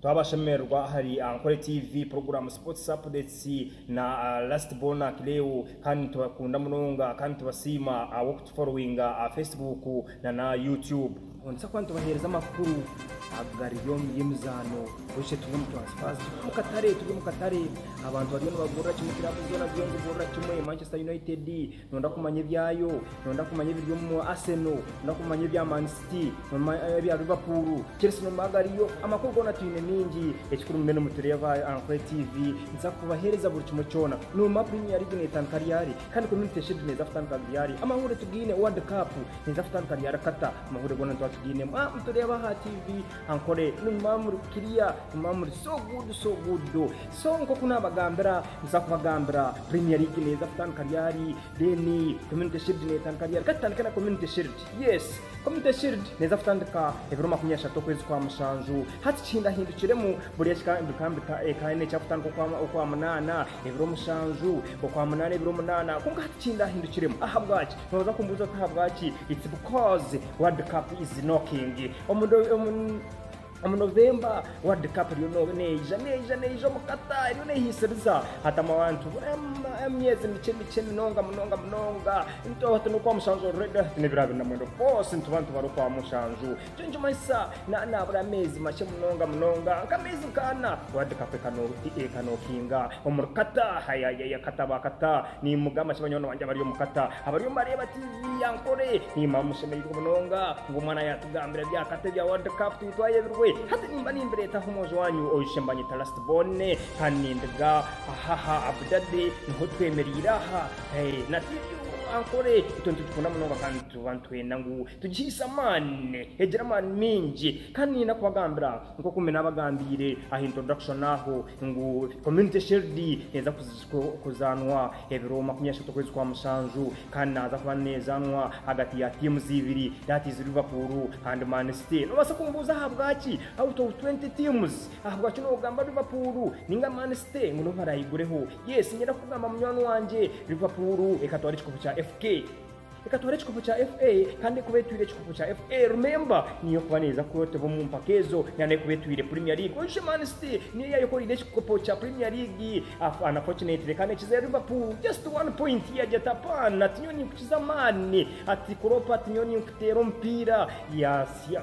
Twabashemererwa ahari Ankole TV, puroguramu Sports Updates na Last Born Akileo kandi nitubakunda munonga kandi nitubasiima ahabw'okutuforowinga aha Facebook na na YouTube. Ontsa kuba nitubaheereza amakuru agariyo omu by'emizaano bucye turi omu transfers turi omu katare turi omu katare abantu bariyo nibagurira kimwe club zoona ziriyo nizigurira kimwe Manchester United Nooyenda kumanya ebyayo? Nooyenda kumanya ebiri omu Arsenal? Nooyenda kumanya ebya Man City? Ebya Liverpool, Chelsea n'omu agariyo? Amakuru goona twine maingi. Ekikuru mube nimutureeba aha Ankwhe TV. Nituza kubaheereza buri kimwe kyona. Noomanya Premier League neetandika ryari? Kandi Community Shield neeza kutandika ryari? Amahuurire tugaine? World Cup neeza kutandika ryari? Qatar? Amahuurire goona nituba tugaine. Mwaba mutureeba aha TV. Ankore ni mamuri kiriya ni mamuri so good so good do so nkoku nabagambira nza kubagambira premier league neza kutandika ryari then community shield netandika ryari katutandike na community shield yes community shield neza kutandika ebiro makumi ashatu okwezi kwa mushanju hati kihindahindukiremu buri ekika bikambika eka ine ekyakutandika okwa okwa munana ebiro mushanju okwa munana ebiro munana konka hati kihindahindukiremu ahabwaki noza kumbuza oti ahabwaki it's because world cup is knocking Omu Novemba, World Cup eriyo neija neija neija omu Qatar eriyo nehiisiriza. Hatamu abantu emyezi mikye mikye munonga munonga munonga. Nitwo hati n'okwa mushanju already hati n'ebiro abiri na mwenda bosi nitwo bantu bari okwa mushanju. Nikyo nikimanyisa naabura ameezi makye munonga munonga nk'ameezi nk'ana World Cup ekanokinga omuri Qatar. Hayayaya Qatar ba Qatar Niimugamba nti, Banywani bangye abari omu kata abariyo nibareeba tiivi ya nkore, niimanya mushemereirwe munonga ngu omwana yaatugambira bya kata ebya World Cup twine twayebirwe. Hati nimba nimbireeta aha omwojo waanyu oishe mbanyeta Last Born kandi nindiga ahaha Abu Dhabi niho twemereire aha. Na tiivi yo ya nkore itwe nitugikunda munonga kandi nituba nitwenda ngu tugihaise amaani, egire amaani maingi. Kandi niinyenda kubagambira, nk'oku mbe naabagambiire aha introduction aho, ngu Community Shield neeza ku. kuzaanwa ebiro makumi ashatu okwezi kwa mushanju kandi naaza kuba neezaanwa ahagati ya tiimuzi ibiri that is Liverpool and Man City noobaasa kumubuuza ahabwaki out of 20 teams ahabwaki noogamba Liverpool ninga Man City ngu nibo baraayigureho yes niinyenda kukugamba munywani wangye Liverpool ekatwara ekikopo kya FK Reka tubare ekikopo kya FA kandi ekuba etwire ekikopo kya FA remember niyo ekuba neeza kuroteba omu mpaka ezo na n'ekuba etwire Premier League oishe Man City niyo yaayekoreire ekikopo kya Premier League af ana fortunately kandi ekizire Liverpool just one point yaagira ati apaana ati nyowe ninkukiza amaani ati Klopp ati nyowe ninkuteera omupiira yaasya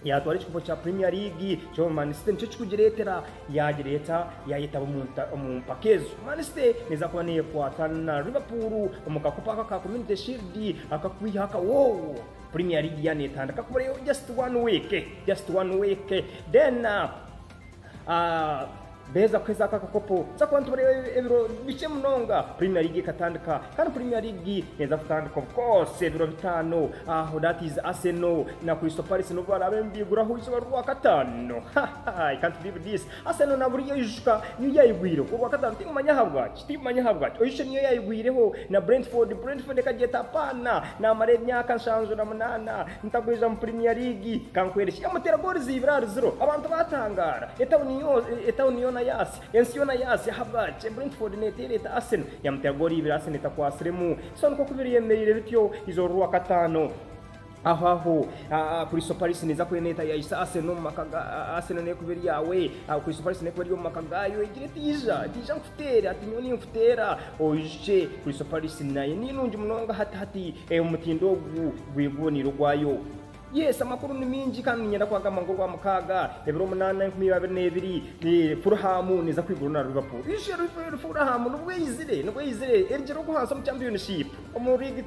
Yaatwara ekikopo kya Premier League kyonka Man City nikyo kikugireetera yaagireeta yaayetaba omu mpaka ezo. Man City neeza kuba neekwata na Liverpool omu kakopo aka ka Community Shield akakwiha akawoowo Premier League yaaneetandika kuba just one week, just one week then. Beeza kuheza aka akakopo. Kyakuba nitubareeba ebiro bikye munonga Premier League ekatandika. Kandi Premier League neeza kutandika of course ebiro bitaano. Aho that is Arsenal na Crystal Palace nibo baraabe nibeiguraho izooba ry'Orwakataano. Ha ha, I can't believe this. Arsenal na buriya oyijuka yo yaigwireho Orwakataano, tingimanya ahabwaki. Steve manya ahabwaki oishe niyo yayigwireho na Brentford, Brentford ekagyeta apaana namara emyaka nshanju na munaana ntagwiza mu Premier League kankwereshe emutera gooli ziibiri ahari ziro abantu batangaara etauni yoona yaasya ensi yoona yaasya ahabwaki Brentford neteera eta Arsenal yamutera gooli ibiri Arsenal etakwatsiremu so nikwo kubiri yemereire bityo eizooba rwakataano Aho aho Crystal Palace neeza kuba neeta yaahitsya Arsenal omu maka ga Arsenal neekuba eri yaawe aho Crystal Palace neekuba eri omu maka gaayo egire eti ija ija nkuteere hati nyowe ninkuteera oijukye Crystal Palace nayo ninungi munonga hati hati omutindo ogu gweguniire ogwayo Yes amakuru ni mingi kandi niinyenda kwagamba ngu Orwamukaaga ebiro munaana enkumi ibiri abiri n'ebiri Fulham neeza kwigurana na Liverpool. Oijukye Fulham nibwo eizire nibwo eizire erigyere ogu hansi omu Championship. Omurwigi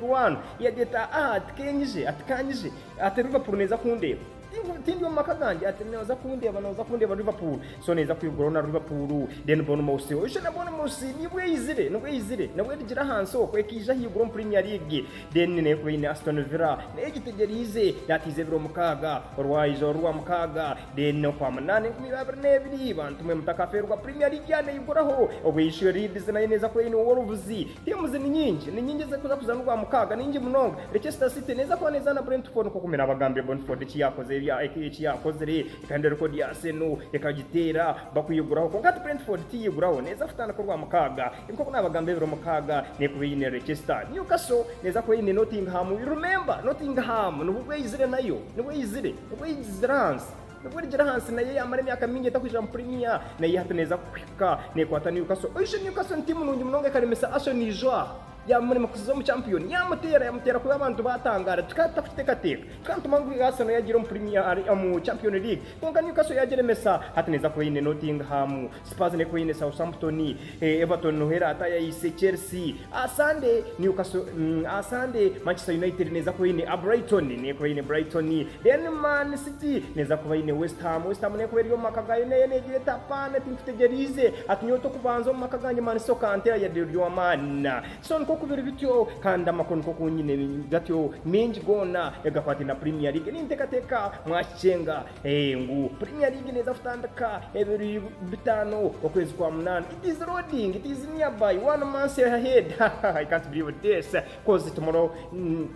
waanu yaagira ati, Aa-a, tikeenyije, ati kaanyije, ati Liverpool neeza kundeeba. Tinku, tindi omu maka gangye, ati nooza kundeeba, nooza kundeeba Liverpool. So neeza kwiguraho na Liverpool. Then Bournemouth, oije na Bournemouth nibwo eizire, nibwo eizire, nibwo erigire ahansi okwo, ekaija ahaiguru omu Premier League. Then neekuba eine Aston Villa, nayo egitegyereize, yaataize ebiro mukaaga, orwaija orwo rwa mukaaga, Then n'okwa munaana enkumi iba abiri n'ebiri, bantu mwe mutakafeerwa Premier League yaaneeyiguraho. Obu eishuyo Leeds nayo neeza kuba eine ow'orubuzi. Tiimuzi ni nyingi, ni nyingi ezirikuza kuzaana ogwa mukaaga, ni nyingi munonga. Leicester City neeza kuba neezaana Brentford nk'oku mbwenu abagambire Brentford eki yaakoze eki yaakozire ekahindura rekoodi ya Arsenal ekagiteera bakwiguraho. Kwonka hati Brentford tiyeeyiguraho, neeza kutandika orwa mukaaga. Nk'oku naabagambira ebiro mukaaga neekuba eine Leicester. Newcastle neeza kuba eine Nottingham. Remember Nottingham nibwo bweizire nayo, nibwo eizire. Obwo Ijzrans nibwo erigira ahansi nayo yaamara emyaka mingi etakwija mu Premier nayo hati neeza kuhika neekwata Newcastle. Oishe Newcastle ni tiimu nungi munonga ekaremesa Arsenal ijo aha, yaamurema kuza omu Champion, yaamuteera yamuteera kubi abantu baatangaara. Tukaba tutakuteekateeka, tukaantuma ngu Arsenal yaagiire omu Premier, omu Champion League, kwonka Newcastle yaagiremesa, hati neeza kuba eine Nottingham. Spurs n'eka oine Southampton, Everton niho eraata yaayise Chelsea. Aha Sande, Newcastle, mm, aha Sande, Manchester United neeza kuba eine aha Brighton, n'eka oine Brighton. Then Man City neeza kuba eine West Ham. West Ham n'eka eri omu maka gaayo nayo neegira eti, Hapana, tinkutegyeriize. Hati nyowe tokubanza omu maka gangye Man City okanteera yade ori owa Man. So nikwo ku biri bityo, kandi amakuru nikwo ku nyine gatyo, maingi goona agakwataine na Premier League. Ninteekateeka mwakicenga. Eeh ngu Premier League neeza kutandika ebiri bitaano okwezi kwa munaana. It is loading, it is nearby, one month ahead. Hahaha I can't believe this coz tomorrow mm,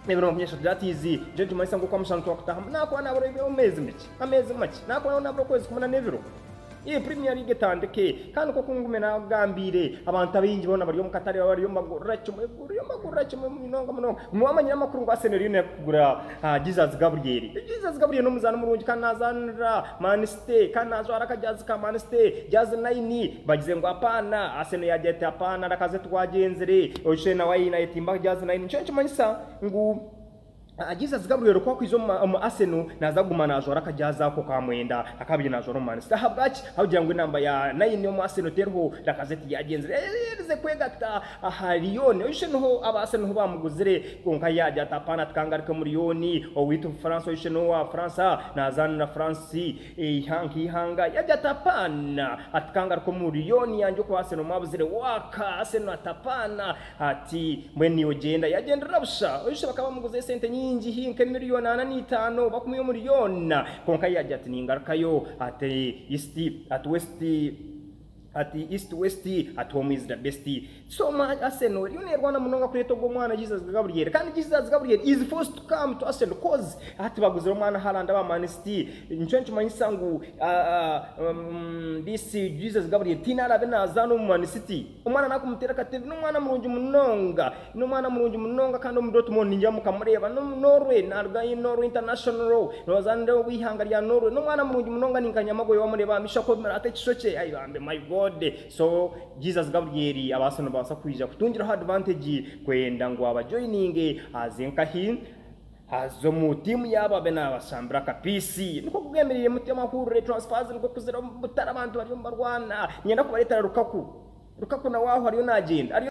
ebiro makumi ashatu that is nikyo nikimanyisa ngu okwamushanu twakutaahamu nakuba naaburayo omu meezi makye, ameezi makye, nakuba naabura okwezi kumwe na n'ebiro. Iyi Premier League etandike kandi nk'oku ngume naakugambiire, abantu abaingi boona bari omu katare bariyo nibagurira kimwe bariyo nibagurira kimwe munonga munonga. Guma wamanyire amakuru ngu Arsenal eriyo neeruka kugura Jesus Gabriel. Jesus Gabriel n'omuzaani murungi kandi naazaanira Man City kandi naajwara akajaazi ka Man City, jaazi naini. Bagize ngu apaana, Arsenal yaagira eti apaana, rakaze tibwagyenzire, oshushe nawe aine ayetimba jaazi naini. Nikyo nikimanyisa ngu Jesus Gabriel ku akwija omu Arsenal naaza kuguma naajwara akajaazi ako ka mwenda akaabaire naajwara omu Man City. Ahabwaki? Ahabw'okugira ngu enamba ya naini omu Arsenal teriho. Lacazette yaagyenzire yaagyenzire kwegata aha Lyon. Oishe niho aba Arsenal niho baamuguzire kwonka yaagya ati, Apaana tikangaruke mu Lyon. Owaitu France oishe n'owa Bufaransa naazaanira France nk'eihanga. Yaagya ati, Apaana tikangaruke omu Lyon yangye okwa Arsenal mwabuzire. Waaka! Arsenal ati, Apaana! Ati, Mbwenu niiwe ogyenda. Yagyenderera busha. Oishe bakaba bamuguza esente nyingi haihi nk'emirioni ana n'eitaano oba kumwe omuri yoona. Kwonka yaagira ati, Ningarukayo. Ati, East, ati West, ati East, West, ati Home is the best. So omwa Arsenal eriyo neerwana munonga kureeta ogwo mwana Jesus Gabriel. Kandi Jesus Gabriel is forced to come to Arsenal coz hati baguzire omwana Haaland aba Man City. Nikyo nikimanyisa ngu, ah, ah, umm, this Jesus Gabriel tihaine araabe naazaana omu Man City. Omwana naakumuteera akatembi, n'omwana murungi munonga, n'omwana murungi munonga kandi omu Dortmund ningira mukamureeba, n'omu Norway, naaruga in Norway International, noozaanira ow'eihanga rya Norway, n'omwana murungi munonga ninkanyama gwe waamureeba aha maisho akoomera ata ekishokye, ai bambi my God! So Jesus Gabriel abaase noobaasa kwija kutungiraho advantage kwenda ngu abajoyininge aze nkahi? Haza omu tiimu yaabo abe naabashambira akapiisi. Nikwo kugendereire mutyo amahurire, transfers, nikwo kuzire omu butare abantu bariyo nibarwana. Niinyenda kubareetera Lukaku. Lukaku nawe aho ariyo naagyenda. Ariyo.